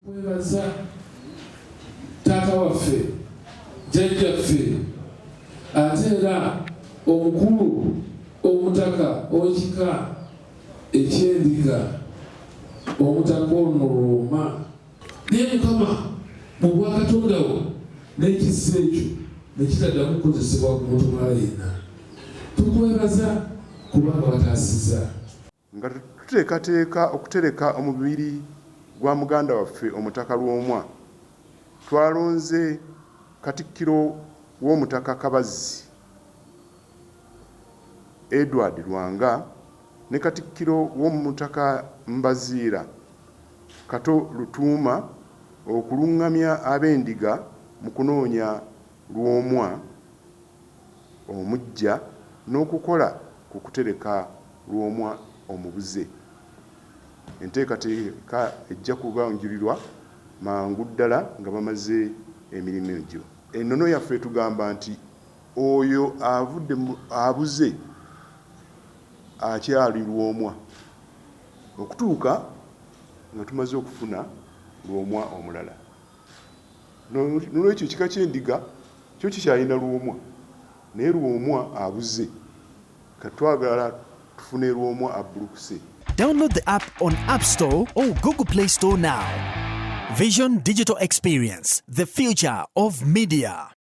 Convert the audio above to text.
Twebaza taata waffe, jjajjaffe ate era omukulu omutaka ow'ekika eky'Endiga, Omutaka ono Looma. Naye Mukama mu bwakatonda wo n'ekisa ekyo ne kitaddamu kukozesebwa ku muntu mulala yenna. Tukwebaza kubanga wataasiza. Nga tuteekateeka okutereka omubiri gwa muganda waffe Omutaka Lwomwa, twalonze Katikkiro w'Omutaka Kabazzi, Edward Lwanga ne Katikkiro w'Omutaka Mbaziira, Kato Lutuuma okulungamya Abendiga mu kunoonya Lwomwa. omuggya n'okukola ku kutereka lwomwa omubuze. Enteekateeka ejja kubanjulirwa mangu ddala nga bamaze emirimu egyo. Ennono yaffe etugamba nti oyo avudde mu abuze akyali lwomwa okutuuka nga tumaze okufuna lwomwa omulala. Nolwekyo ekika ky'endiga kyo kikyalina Lwomwa naye Lwomwa abuze kati twagala tufune Lwomwa abbulukuse. Download the app on App Store or Google Play Store now. Vision Digital Experience, the future of media.